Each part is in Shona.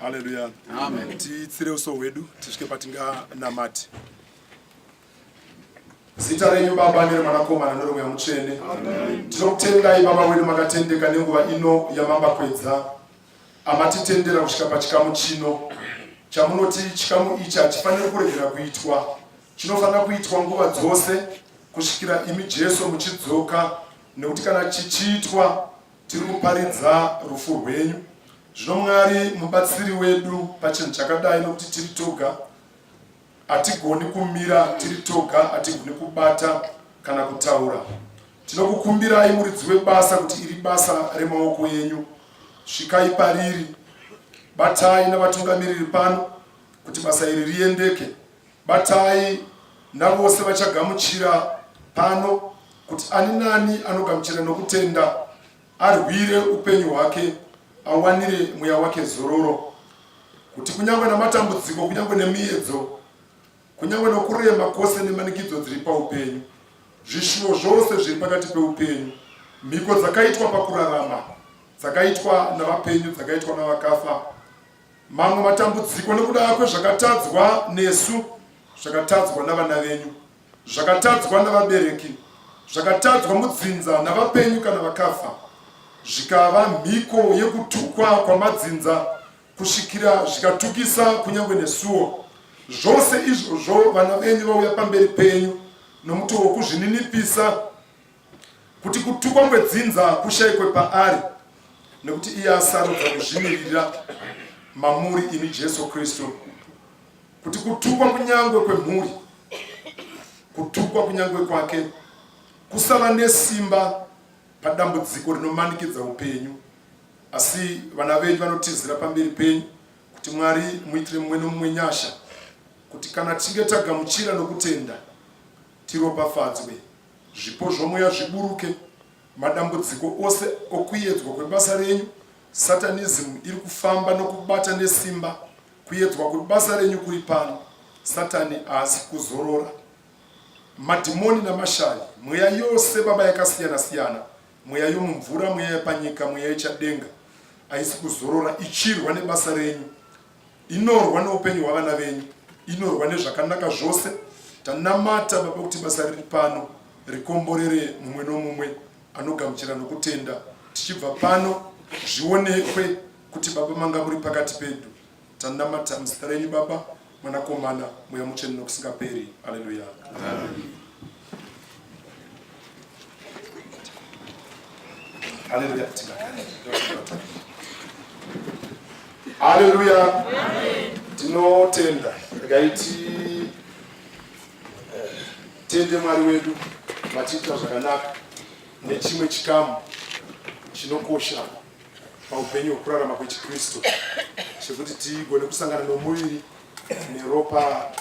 Hallelujah. Amen. Titsire uso hwedu tisvike patinganamati. Zita renyu Baba nereMwanakomana nereMweya Mutsvene. Tinokutendai Baba wedu makatendeka nenguva ino yamambakwedza amatitendera kusvika pachikamu chino chamunoti chikamu ichi hachifaniri kuregera kuitwa chinofanira kuitwa nguva dzose kusvikira imi Jesu muchidzoka nekuti kana chichiitwa tiri kuparidza rufu rwenyu zvino Mwari mubatsiri wedu pachinhu chakadai nokuti tiri toga Hatigoni kumira tiri toga, hatigoni kubata kana kutaura. Tinokukumbirai muridzi webasa kuti iri basa remaoko yenyu, svikai pariri, batai navatungamiriri pano kuti basa iri riendeke, batai navose vachagamuchira pano kuti ani nani anogamuchira nokutenda arwire upenyu hwake awanire mweya wake zororo kuti kunyange namatambudziko kunyange nemiyedzo kunyange nokurema kwose nemanikidzo dziri paupenyu zvishuwo zvose zviri pakati peupenyu mhiko dzakaitwa pakurarama dzakaitwa navapenyu dzakaitwa navakafa mamwe matambudziko nekuda kwezvakatadzwa nesu zvakatadzwa navana venyu zvakatadzwa navabereki zvakatadzwa mudzinza navapenyu kana vakafa zvikava mhiko yekutukwa kwamadzinza kusvikira zvikatukisa kunyange nesuwo zvose izvozvo vana venyu vauya pamberi penyu nomutoo wokuzvininipisa kuti kutukwa kwedzinza kushayikwe paari nekuti iye asarudza kuzvimirira mamuri imi jesu kristu kuti kutukwa kunyangwe kwemhuri kutukwa kunyangwe kwake kusava nesimba padambudziko rinomanikidza upenyu asi vana venyu vanotizira pamberi penyu kuti mwari muitire mumwe nomumwe nyasha kuti kana tichinge tagamuchira nokutenda tiropafadzwe zvipo zvomweya zviburuke madambudziko ose okuyedzwa kwebasa renyu satanizimu iri kufamba nokubata nesimba Kuyedzwa kuri basa renyu kuri pano. Satani haasi kuzorora. Madhimoni namashari, mweya yose baba yakasiyana siyana, mweya yomumvura, mweya yepanyika, mweya yechadenga haisi kuzorora ichirwa nebasa renyu, inorwa neupenyu hwavana venyu, inorwa nezvakanaka zvose. Tanamata baba kuti basa riri pano rikomborere mumwe nomumwe anogamuchira nokutenda tichibva pano zvionekwe kuti baba manga muri pakati pedu tanamata muzita renyu baba mwanakomana mweya mutsvene nokusingaperi aleluya aleluya aleluya tinotenda ndikaiti eh, tende mwari wedu matiita zvakanaka nechimwe chikamu chinokosha paupenyu hwekurarama kwechiKristu chekuti tigone kusangana nomuviri neropa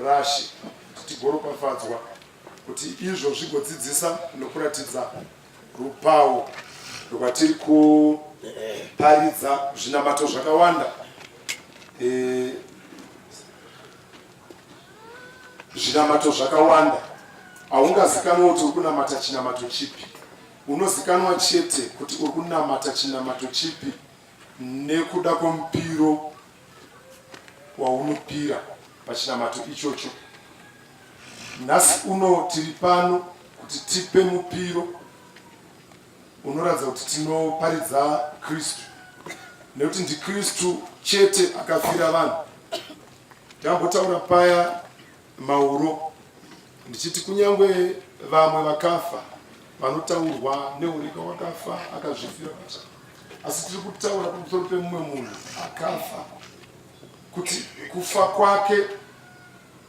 rashe kuti tigoropafadzwa kuti izvo zvigodzidzisa nokuratidza rupawo rwatiri kuparidza zvinamato zvakawanda eh, zvinamato zvakawanda haungazikanwa kuti uri kunamata chinamato chipi Unozikanwa chete kuti uri kunamata chinamato chipi nekuda kwemupiro waunopira pachinamato ichocho. Nhasi uno tiri pano kuti tipe mupiro unoratidza kuti tinoparidza Kristu, nekuti ndiKristu chete akafira vanhu. Tambotaura paya Mauro ndichiti kunyangwe vamwe vakafa vanotaurwa neurika wakafa akazvifira basa asi tiri kutaura pamusoro pemumwe munhu akafa kuti kufa kwake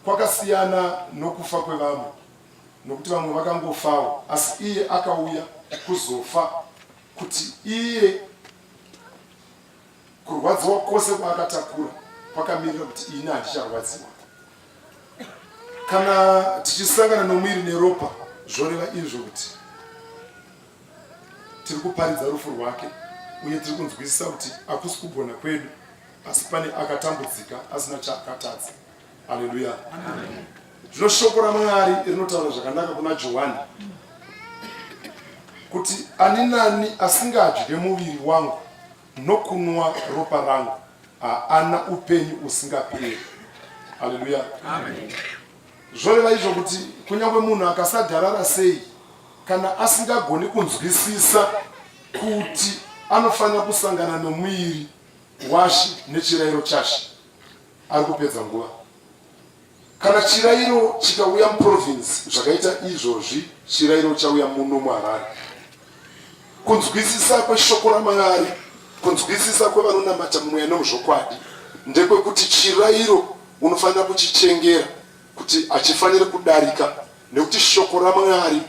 kwakasiyana nokufa kwevamwe nokuti vamwe vakangofawo asi iye akauya kuzofa kuti iye Kurwadziwa kwose kwaakatakura kwakamirira kuti ini handicharwadziwa. Kana tichisangana nomwiri neropa, zvoreva izvo kuti tiri kuparidza rufu rwake uye tiri kunzwisisa kuti akusi kugona kwedu, asi pane akatambudzika asina chaakatadza. Haleluya! Zvino shoko raMwari rinotaura zvakanaka kuna Johani kuti ani nani asingadye muviri wangu Nokunwa ropa rangu haana upenyu usingaperi. Haleluya, amen. Zvoreva izvo kuti kunyange munhu akasagarara sei, kana asingagoni kunzwisisa kuti anofanira kusangana nomuviri washe nechirayiro chashe, ari kupedza nguva. Kana chirairo chikauya muprovince zvakaita izvozvi, chirairo chauya muno muharare. Kunzwisisa kweshoko ramwari, kunzwisisa kwevanonamata mweya nomuzvokwadi ndekwekuti chirairo unofanira kuchichengera. kuti achifanire kudarika nekuti shoko raMwari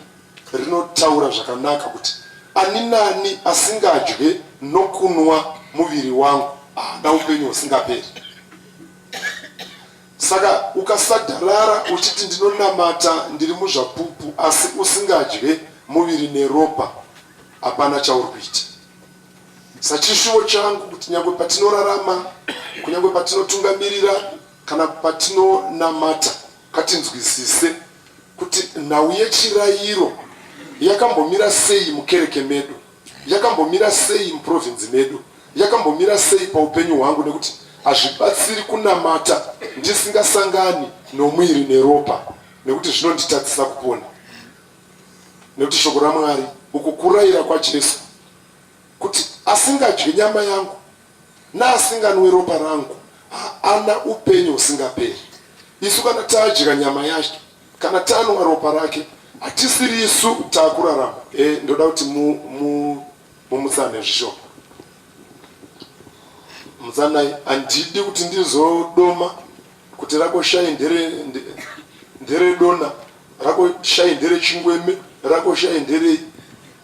rinotaura zvakanaka kuti ani nani asingadye nokunwa muviri wangu haana upenyu husingaperi saka ukasadarara uchiti ndinonamata ndiri muzvapupu asi usingadye muviri neropa hapana chauri kuita sachishuvo changu kuti nyange patinorarama kunyange patinotungamirira Kana patinonamata ngatinzwisise kuti nhau yechirayiro yakambomira sei mukereke medu, yakambomira sei muprovinzi medu, yakambomira sei paupenyu hwangu nekuti hazvibatsiri kunamata ndisingasangani nomuiri neropa nekuti zvinonditadzisa kupona nekuti shoko ramwari uku kurayira kwajesu kuti asingadye nyama yangu Naasinganwi ropa rangu haana upenyu husingaperi. Isu kana tadya nyama yake kana tanwa ropa rake hatisiri isu takurarama. E, ndoda kuti mumutsane mu, zvishoma mutsanai. Handidi kuti ndizodoma Kuti rako shayi ndere ndere dona rako shayi ndere chingweme rako shayi nderei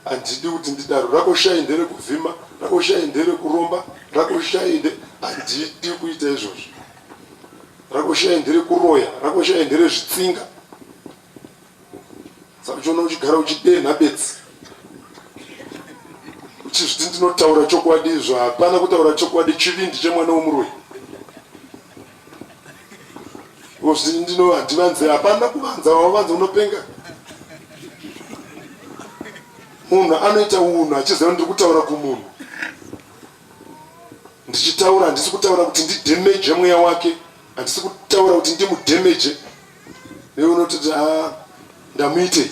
handidi kuti ndidaro rako shayi ndere kuvhima rako shayi ndere kuromba rako shayi nde handidi kuita izvozvo rako shayi ndere kuroya rako shayi ndere zvitsinga sakuchiona uchigara uchidenha bedzi uchizviti ndinotaura chokwadi izvo hapana kutaura chokwadi chivindi chemwana womuroi ozvii ndino handivanze hapana kuvanza wavanza unopenga munhu anoita unhu achiziva ndiri kutaura kumunhu ndichitaura handisi kutaura kuti ndidhemeje mweya wake handisi kutaura kuti ndimudemeje Iwe unoti ah, ndamuite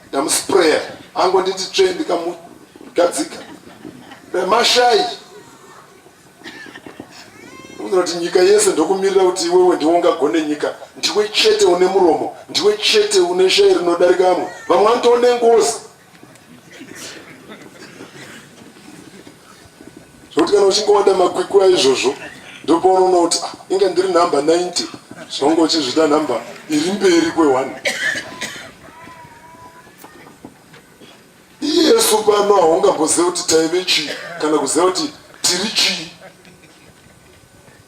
ndamusprayer ango nditi tsve ndikamugadzika remashai unoti nyika yese ndokumirira kuti iwewe ndiwe ungagone nyika ndiwe chete une muromo ndiwe chete une shai rinodarika amwe vamwe vanotoone ngozi zvekuti kana uchingowanda makwikwi aizvozvo ndopaunoona kuti ah, inga ndiri number 90 zvaunga uchizvida number iri mberi kweone iyesu pano haungamboziva kuti taive chii kana kuziva kuti tiri chii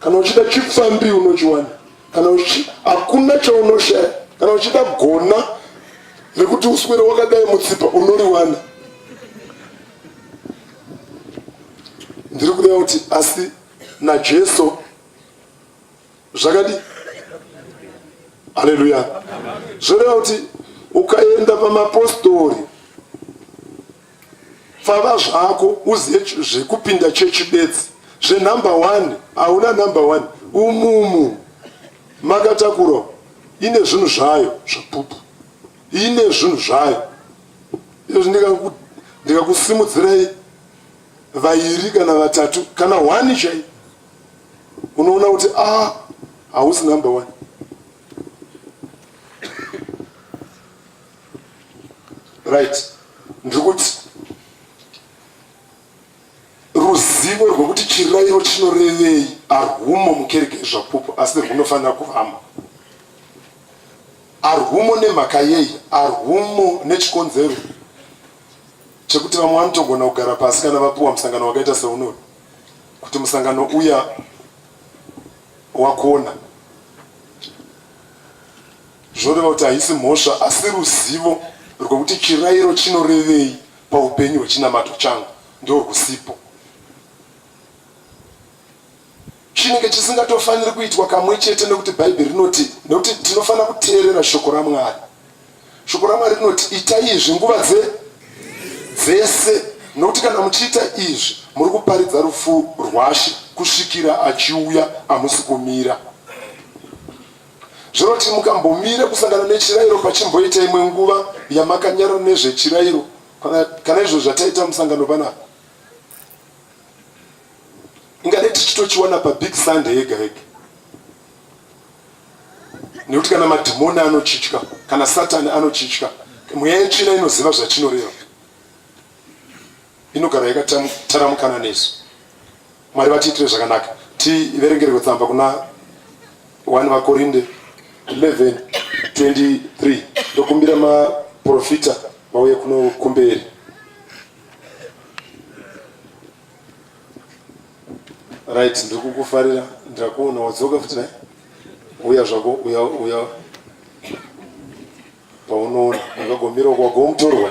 Kana uchida chipfambi unochiwana, kana uchi hakuna chaunoshaya. Kana uchida gona rekuti uswere wakadai mutsipa unoriwana. Ndiri kureva kuti asi naJesu zvakadi. Haleluya! Zvoreva kuti ukaenda pamapostori Pfava zvako uzive zvekupinda chechi bedzi zvenumber one hauna number one umumu makatakura ine zvinhu zvayo zvapupu ine zvinhu zvayo izvi ndikakusimudzirai vairi kana vatatu kana one chai unoona kuti a ah, hausi number one right ndiri kuti ruzivo rwekuti chirayiro chinorevei arwumo mukereke yezvapupu asi rwunofanira kuvamo arwumo nemhaka yei arwumo nechikonzero chekuti vamwe vanotogona kugara pasi kana vapuwa musangano wakaita seunori kuti musangano uya wakuona Zvoreva kuti haisi mhosva asi ruzivo rwekuti chirairo chinorevei paupenyu hwechinamato changu ndorwusipo. Chinenge chisingatofaniri kuitwa kamwe chete nekuti Bhaibheri rinoti nekuti tinofanira kuteerera shoko raMwari. Shoko raMwari rinoti itai izvi nguva dze dzese nokuti kana muchiita izvi muri kuparidza rufu rwashe kusvikira achiuya amusi kumira Zvinoti mukambomira kusangana nechirairo pachimboita imwe nguva yamakanyarara nezvechirairo kana, kana izvo zvataita musangano panapa ingadai tichitochiwana pabig sunday yega yega nekuti kana madhimoni anochitya kana satani anochitya mweya yetsvina inoziva zvachinoreva inogara yakataramukana nesu Mwari vatiitire zvakanaka. Tiverengerwe tsamba kuna 1 vaKorinde 11 23 ndokumbira maprofita vauye kuno kumberi. Right, ndiri kukufarira ndakuona wadzoka futi naye. Uya zvako uya uya paunoona wakagomira kwagomutorwa.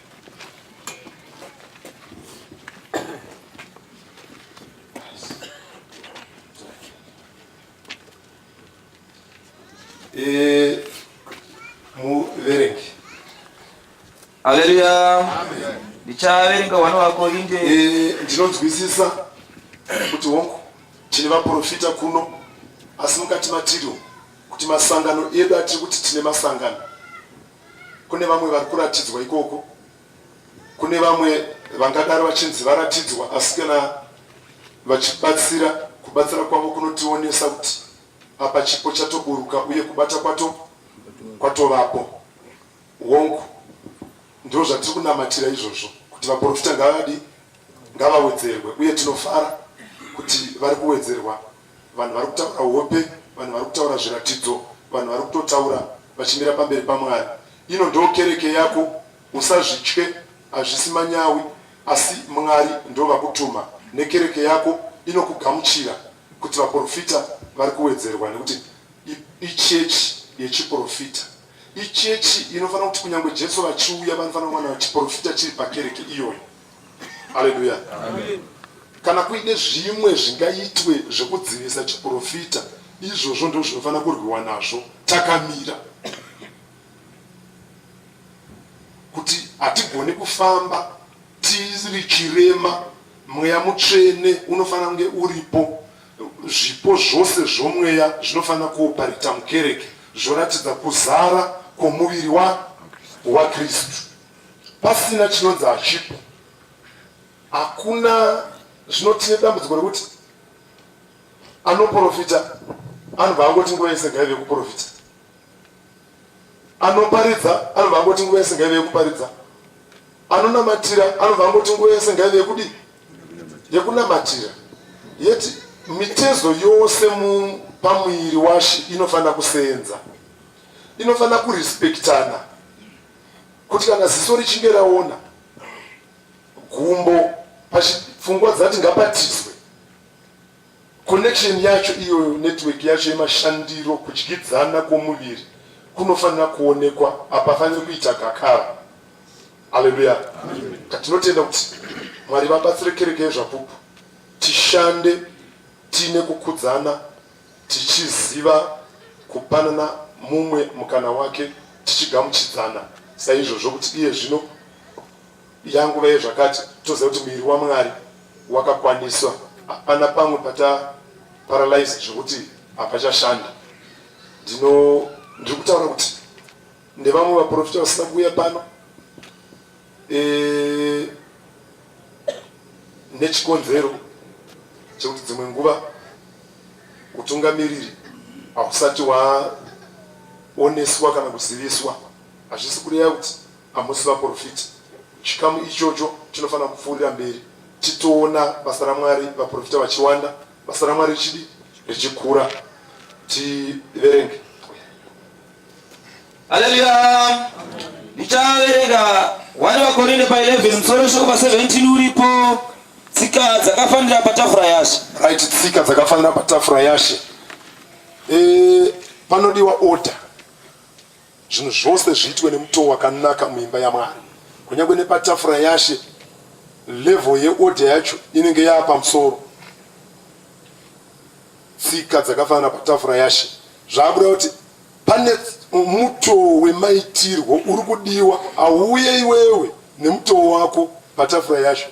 E, muverengi haleluya ndichaverenga hwana wako inde e, ndinonzwisisa kuti hongu tine vaprofita kuno asi mukati matiriwo kuti masangano edu atiri kuti tine masangano Kune vamwe vari kuratidzwa ikoko, kune vamwe vangadaro vachinzi varatidzwa, asi kana vachibatsira, kubatsira kwavo kunotionesa kuti apa chipo chatoburuka uye kubata kwato kwatovapo. Hongu, ndizvo zvatiri kunamatira izvozvo, kuti vaprofita ngavadi ngavawedzerwe, uye tinofara kuti vari kuwedzerwa Vanhu vari kutaura hope, vanhu vari kutaura zviratidzo, vanhu vari kutotaura vachimira pamberi paMwari. Ino ndoo kereke yako, usazvitye, hazvisi manyawi, asi Mwari ndovakutuma nekereke yako inokugamuchira kuti vaporofita vari kuwedzerwa nekuti ichechi yechiporofita. Ichechi inofanira kuti kunyangwe Jesu vachiuya vanofanira kuwana chiporofita chiri pakereke iyoyo. Haleluya. Kana kuine zvimwe zvingaitwe zvekudzivisa chiprofita, izvozvo ndizvo zvinofanira kurwiwa nazvo takamira, kuti hatigoni kufamba tiri chirema. Mweya mutsvene unofanira kunge uripo, zvipo zvose zvomweya zvinofanira kuoparita mukereke, zvoratidza kuzara kwomuviri waKristu. pasina chinonzi hachipo hakuna zvinotine dambudziko rekuti anoprofita anobva angoti nguva yese ngaive kuprofita anoparidza anobva angoti nguva yese ngaive yekuparidza anonamatira anobva angoti nguva yese ngaive yekudi yekunamatira yeti mitezo yose pamuviri washe inofanira kuseenza inofanira kurespektana kuti kana ziso richinge raona gumbo pachipfungwa dzati ngapatiswe connection yacho iyoyo network yacho yemashandiro kudyidzana kwomuviri kunofanira kuonekwa hapafaniri kuita gakara aleluya katinotenda kuti mwari vabatsire kereke yezvapupu tishande tiine kukudzana tichiziva kupanana mumwe mukana wake tichigamuchidzana saizvozvo kuti iye zvino yanguva yezvakati toziva kuti muviri wamwari wakakwaniswa hapana pamwe pata paralyze zvekuti hapachashanda ndino ndiri kutaura kuti nevamwe vaprofita vasina kuuya pano e, nechikonzero chekuti dzimwe nguva utungamiriri hausati waoneswa kana kuziviswa hazvisi kureva kuti hamusi vaprofiti chikamu ichocho chinofanira kupfuurira mberi titoona basa ramwari vaprofita vachiwanda basa ramwari richidi richikura tiverenge Haleluya. Ndichaverenga wani vakorinde pa 11 musoro weshoko pa 17 uripo tsika dzakafanira patafura yashe. Right, tsika dzakafanira patafura yashe. Eh, panodiwa order. Zvinhu zvose zviitwe nemutoo wakanaka muimba yaMwari. Kunyangwe nepatafura yashe level yeorder yacho inenge yaapamusoro. Tsika dzakafanira patafura yashe. Zvabuda kuti Pane mutoo wemaitirwo uri kudiwa auuye iwewe nemutoo wako patafura yacho.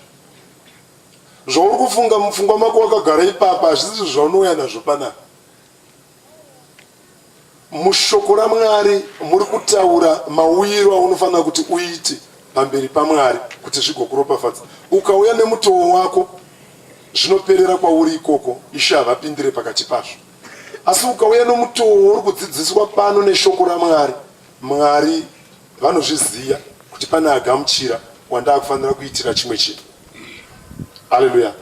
Zvauri kufunga mupfungwa mako wakagara ipapa hazvisi zvaunouya nazvo panapa. Mushoko raMwari muri kutaura mauyiro aunofanira kuti uite pamberi paMwari kuti zvigokuropafadza. Ukauya nemutoo wako zvinoperera kwauri ikoko, Ishe havapindire pakati pazvo. Asi ukauya nomutoo uri kudzidziswa pano neshoko raMwari, Mwari vanozviziva kuti pane agamuchira wandaa kufanira kuitira chimwe chinhu. Haleluya,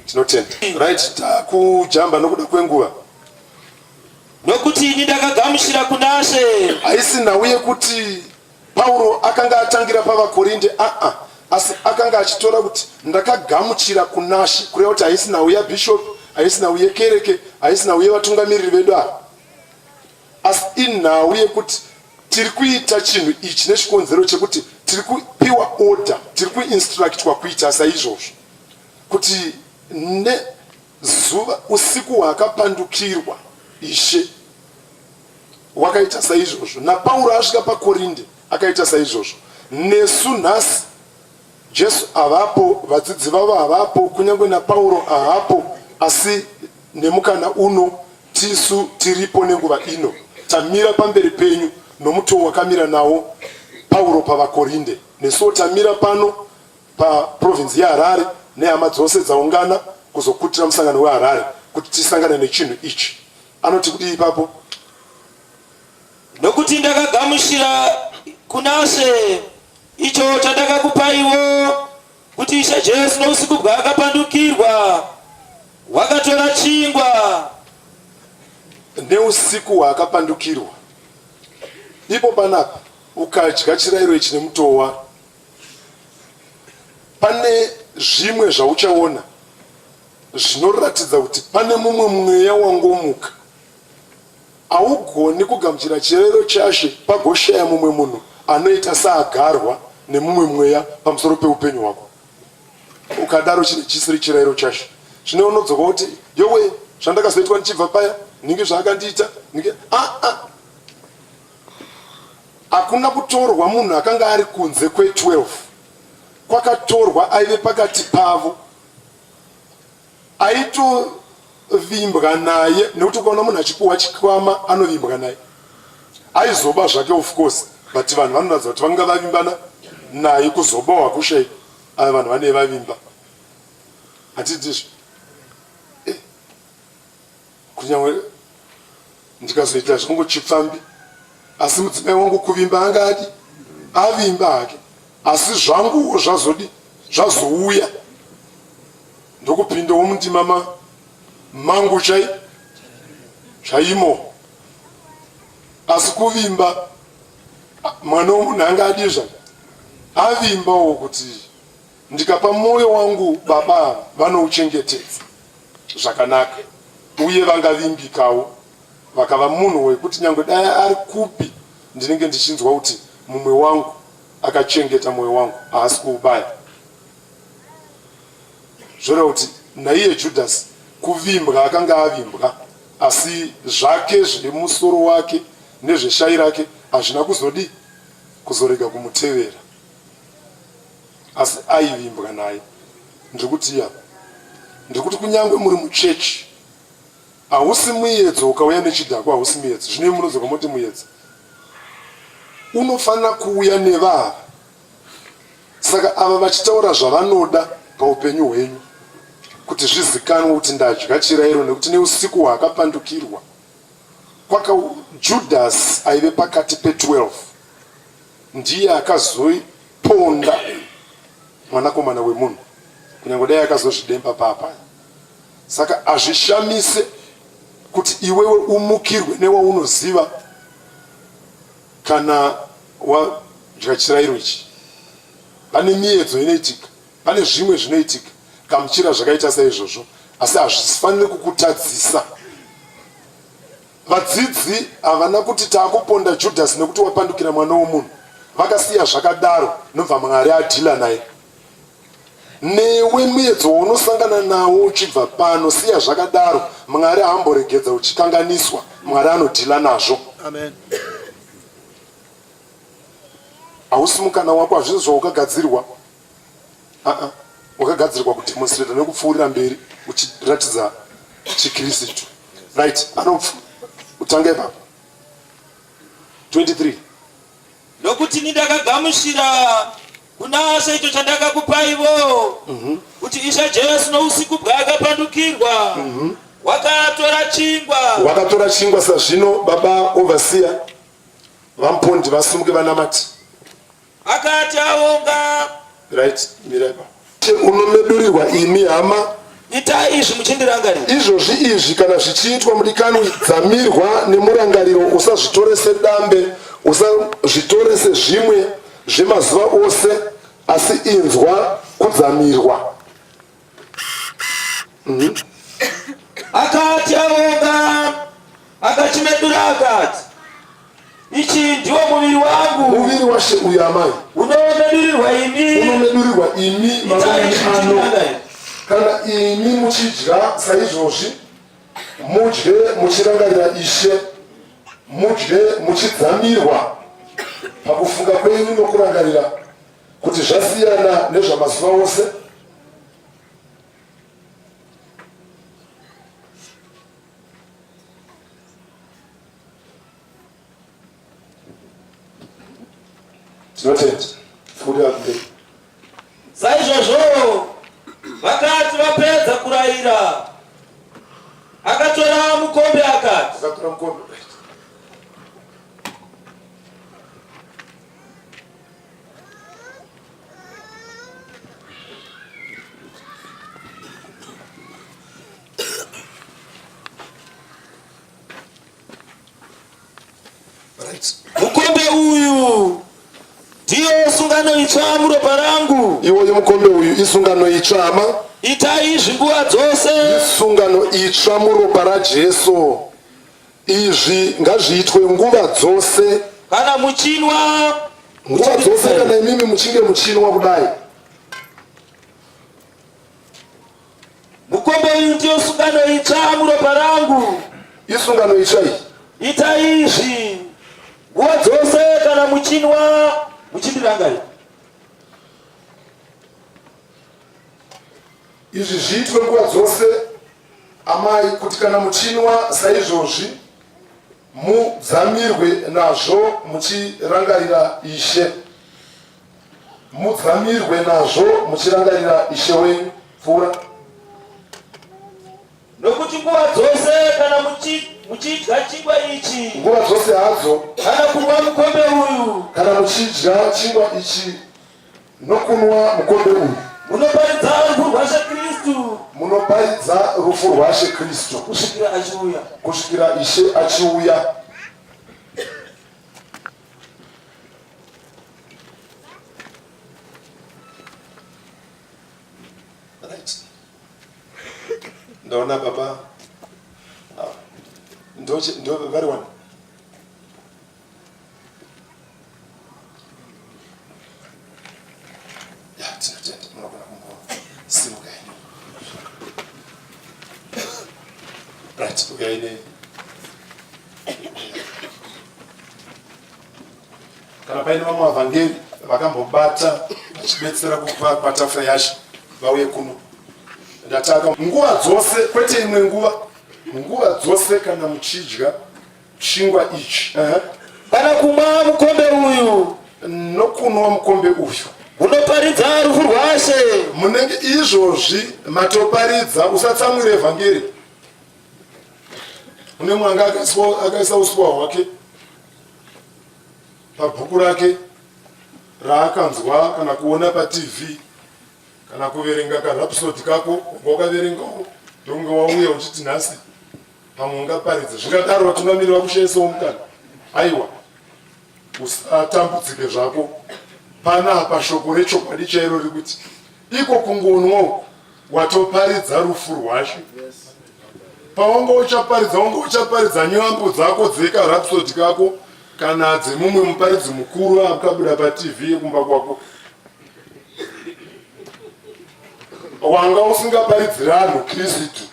tinotenda. Right, takujamba nokuda kwenguva. Nokuti ini ndakagamuchira kuna She. Haisi nhau yekuti Pauro akanga atangira pavaKorinde aa asi akanga achitora kuti ndakagamuchira kunashe kureva kuti haisi nhau yabhishopi haisi nhau yekereke haisi nhau yevatungamiriri vedu ava asi inhau yekuti tiri kuita chinhu ichi nechikonzero chekuti tiri kupiwa order tiri kuinstructwa kuita saizvozvo kuti nezuva usiku hwaakapandukirwa ishe wakaita saizvozvo, naPauro asvika paKorinde akaita saizvozvo. Nesu nhasi, Jesu avapo, vadzidzi vavo havapo, kunyange naPauro haapo, asi nemukana uno tisu tiripo nenguva ino, tamira pamberi penyu nomutoo wakamira nawo Pauro pavaKorinde. Nesuwo tamira pano paprovinzi yeHarare nehama dzose dzaungana kuzokutira musangano weHarare kuti tisangane nechinhu ichi. Anoti kudii ipapo? Nokuti ndakagamuchira kuna She icho chandakakupaiwo, kuti Ishe Jesu nousiku bwaakapandukirwa, wakatora chingwa. Neusiku hwaakapandukirwa, ipo panapa, ukadya chirairo ichi nemutoo waro, pane zvimwe zvauchaona Zvinoratidza kuti pane mumwe mweya wangomuka. Haugoni kugamuchira chirayiro chaShe pagoshaya mumwe munhu anoita saagarwa nemumwe mweya pamusoro peupenyu hwako. Ukadaro chinhu chisiri chirayiro chaShe. Zvino unodzoka woti, Yowe! Zvandakazoitwa ndichibva paya, nhingi zvaakandiita, nhingi. Aa! Hakuna kutorwa munhu akanga ari kunze kwe 12. Kwakatorwa aive pakati pavo. aitovimbwa naye nekuti ukaona munhu achipuhwa chikwama anovimbwa naye aizoba zvake of course but vanhu vanoratidza kuti vanga vavimbana naye kuzobawa kushai ava vanhu vane vavimba hatidizvo Kunyange ndikazoita zvangu chipfambi asi mudzimai wangu kuvimba anga adi avimba hake asi zvanguwo zvazodi zvazouya ndokupindawo mundima ma mangu chai chaimo asi kuvimba mwana womunhu anga adizva avimbawo kuti Ndikapa mwoyo wangu baba ava vanouchengetedza zvakanaka uye vangavimbikawo vakava munhu wekuti nyangwe dai ari kupi ndinenge ndichinzwa kuti mumwe wangu akachengeta mwoyo wangu haasi kuubaya zvoreva kuti naiye judhasi kuvimbwa akanga avimbwa asi zvake zvemusoro wake nezveshai rake hazvina kuzodii kuzorega kumutevera asi aivimbwa naye ndiri kutii apa ndiri kuti kunyange muri muchechi hausi muyedzo ukauya nechidhakwa hausi muyedzo zvinei munodzoka moti muyedzo unofanira kuuya nevava saka ava vachitaura zvavanoda paupenyu hwenyu kuti zvizikanwe kuti ndadya chirairo nekuti neusiku hwaakapandukirwa kwaka judhasi aive pakati pe 12 ndiye akazoiponda mwanakomana wemunhu kunyange dai akazozvidemba papa saka azvishamise kuti iwewe umukirwe newaunoziva kana wadya chirairo ichi pane miyedzo inoitika pane zvimwe zvinoitika kamuchira zvakaita saizvozvo asi hazvifanire kukutadzisa Vadzidzi havana kuti takuponda Judhasi nekuti wapandukira mwana womunhu. Vakasiya zvakadaro nobva Mwari adhila naye. Newe muedzo waunosangana nawo uchibva pano siya zvakadaro. Mwari haamboregedza uchikanganiswa. Mwari anodhila nazvo. Amen. Hausi mukana wako hazvisi zvaukagadzirwa. Aa, wakagadzirwa kudemonstrata nekupfuurira mberi uchiratidza chikirisitu right anopfu utanga ipapo 23 nokuti ini ndakagamuchira kuna she icho chandakakupaivo mhm. kuti mm -hmm. isha jesu nousiku bwaakapandukirwa mm -hmm. wakatora chingwa wakatora chingwa sazvino baba ovasiya vampondi vasumuke vanamati Akati aonga. Right, miraipa. Unomedurirwa imi hama. Itai izvi muchindirangarira. Izvozvi izvi kana zvichiitwa mudikanwi dzamirwa nemurangariro usazvitore sedambe usazvitore sezvimwe zvemazuva ose asi inzwa kudzamirwa. akati aonga akachimedura akati ichi ndiwo muviri wangu muviri washe uyu amai unomedurirwa imi unomedurirwa imi mavani ano kana imi muchidya saizvozvi mudye muchirangarira ishe mudye muchidzamirwa pakufunga kwenyu nokurangarira kuti zvasiyana nezvamazuva ose tinotenda futi akude saizvozvo vakati vapedza kurayira akatora mukombe akati akatora mukombe Mukombe uyu ndiyo sungano itsva muropa rangu. Iwoyo mukombe uyu isungano itsva ma. Itai izvi nguva dzose. Isungano itsva muropa raJesu. Izvi ngazviitwe nguva dzose kana muchinwa nguva dzose kana imimi muchinge muchinwa kudai. Mukombe uyu ndiyo sungano itsva muropa rangu. Isungano itsva iyi. Ita izvi nguva dzose kana muchinwa muchindirangarira. Izvi zviitwe nguva dzose Amai, kuti kana muchinwa saizvozvi mudzamirwe nazvo muchirangarira Ishe, mudzamirwe nazvo muchirangarira Ishe wenyu. Pfuura. Nokuti nguva dzose kana muchidya chingwa ichi, nguva dzose hadzo, kana kunwa mukombe uyu, kana muchidya chingwa ichi nokunwa mukombe uyu munoparidza rufu rwaShe Kristu munoparidza rufu rwaShe Kristu kusvikira achiuya kusvikira Ishe achiuya. Ndaona baba ah, ndo vari wani kana paine vamwe vavhangeri vakambobata vachibetsera kupa patafura yashe vauye kuno ndataka nguva dzose kwete imwe nguva nguva dzose kana muchidya chingwa ichi uh -huh. kana kumwa mukombe uyu nokunwa mukombe uyu munoparidza rufu rwashe munenge izvozvi matoparidza usatsamwire evhangeri une mwanga akaisa usuwa hwake pabhuku rake raakanzwa kana kuona patv kana kuverenga karhapisodi kako unga wakaverengawo ndonge wauya uchiti nhasi pamwe ungaparidze zvingadaro vatungamiri vakushaisawo mukana aiwa usatambudzike zvako panapa shoko rechokwadi chairo rekuti iko kungonwawo watoparidza rufu rwashe pawanga uchaparidza wanga uchaparidza nyambo dzako dzekarapsodi kako kana dzemumwe muparidzi mukuru akabuda patv yekumba kwako wanga usingaparidzira anhu kristu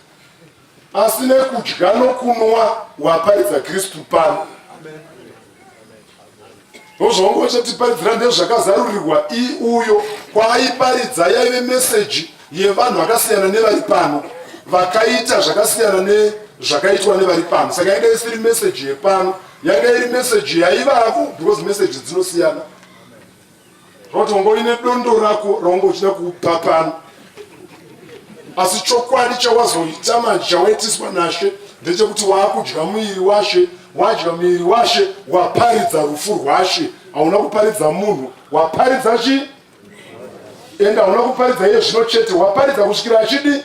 Asi nekudya nokunwa waparidza Kristu pano. Ndozvaunge uchatiparidzira ndezvakazarurirwa i uyo kwaaiparidza yaive meseji yevanhu vakasiyana nevari pano vakaita zvakasiyana nezvakaitwa nevari pano saka yanga isiri meseji yepano yanga iri meseji yaivavo because meseji dzinosiyana rotongoine dondo rako raunge uchida kupa pano asi chokwadi chawazoita manje chawaitiswa nashe ndechekuti waakudya muiri washe wadya muiri washe waparidza rufu rwashe hauna kuparidza munhu waparidza chi ende hauna kuparidza iye zvino chete waparidza kusvikira achidi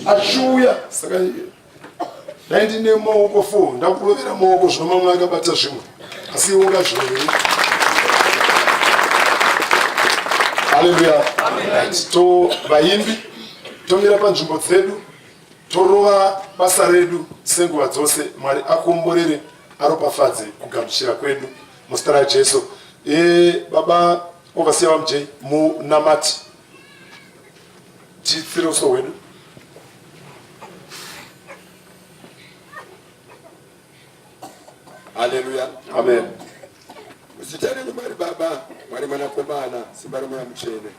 achiuya saka dai ndine maoko fo ndakurovera maoko zvino mamwe akabata zvimwe asi iwe ungazviroveri haleluya to vaimbi tomira panzvimbo dzedu torova basa redu senguva dzose mwari akomborere aropafadze kugamuchira kwedu muzita rajesu e, baba ovasiya vamj munamati Chitsiro so wedu. Hallelujah. Amen. Muzita renyu Mwari Baba, Mwari Mwanakomana, Simba reMweya Mutsvene.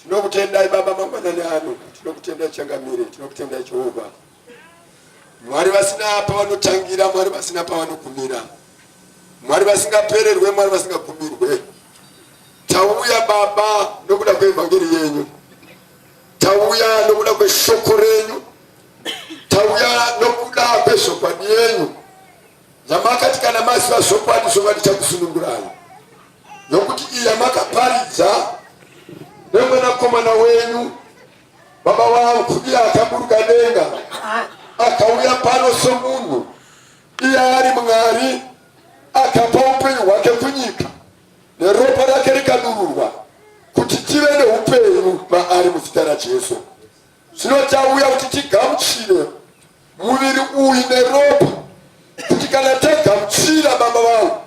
Tinokutendai Baba mangwanani ano, tinokutendai Changamire, tinokutendai Jehovha. Mwari vasina pavanotangira, Mwari vasina pavanogumira, Mwari vasingapererwe, Mwari vasingagumirwe. Tauya Baba nokuda kweevhangeri yenyu, tauya nokuda kweshoko renyu, tauya nokuda kwezvokwadi yenyu yamakati kana maziva zvokwadi zvokwadi chakusunungurai nokuti iya makaparidza nemwanakomana wenyu Baba vangu iye akaburuka denga akauya pano somunhu iye ari Mwari akapa upenyu hwake kunyika neropa rake rikadururwa kuti tive neupenyu maari muzita raJesu. Zvino tauya kuti tigamuchire Muviri uyu neropa kuti kana tagamuchira Baba vangu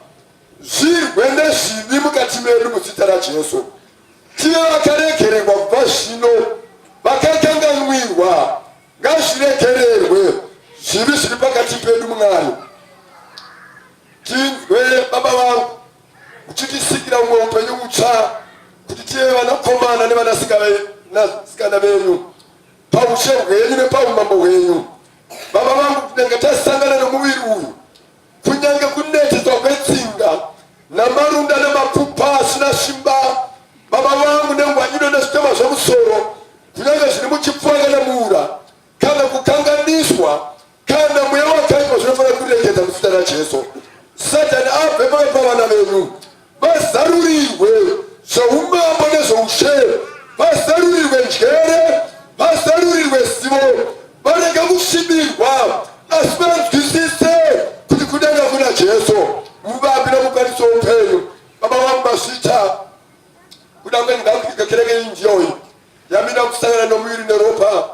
zvirwe nezvivi mukati medu muzita raJesu tive vakaregererwa kubva zvino vakakanganwirwa ngazviregererwe zvivi zviri pakati pedu Mwari tinzwe Baba vangu uchitisikira umwe upenyu utsva kuti tive vanakomana nevanasikana venyu paushe hwenyu nepaumambo hwenyu baba vangu tinenge tasangana nomuviri uyu kunyange kuneteswa kwetsinga namarunda nemapfupa asina simba baba vangu nengwanyino nezvitema zvemusoro kunyange zviri muchipfuwa kana muura kana kukanganiswa Kana mweya wakaipa zvinofanira kuregedza muzita raJesu. Satani abve pakati pavana venyu, vazarurirwe zvoumambo nezvoushe, vazarurirwe njere, vazarurirwe zivo, varega kusvibirwa, asi vanzwisise kuti kudenga kuna Jesu, muvapi nomukwanisi woupenyu. Baba vangu mazvita kuda kwenyu ngakuiga kereke iyi njiya uyu yamina kusangana nomuviri neropa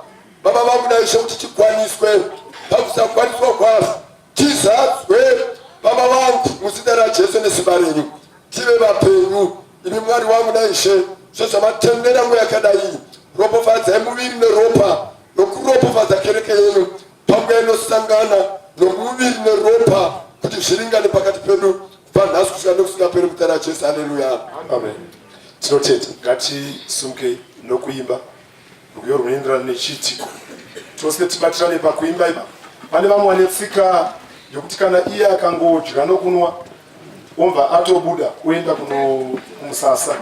baba vangu naishe kuti chikwaniswe pakusakwaniswa kwavo tizadzwe baba vangu muzita rajesu nesimba renyu tive vapenyu imi mwari wangu naishe sezvamatendera ngo yakadai ropofadzai muviri neropa nokuropofadza kereke yenyu Pamwe inosangana nomuviri neropa kuti zviringane pakati pedu kubva nhasi kusvika nekusingaperi mutara ajesu aleluya amen tinotenda ngatisumukei nokuimba rwiyo rwunoenderana nechiitiko tose tibatirane pakuimba ipa pane vamwe vane tsika yokuti kana iye akangodya nokunwa omva atobuda kuenda kumusasa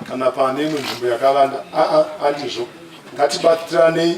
kana pane imwe nzvimbo yakavanda aa andizvo ngatibatiranei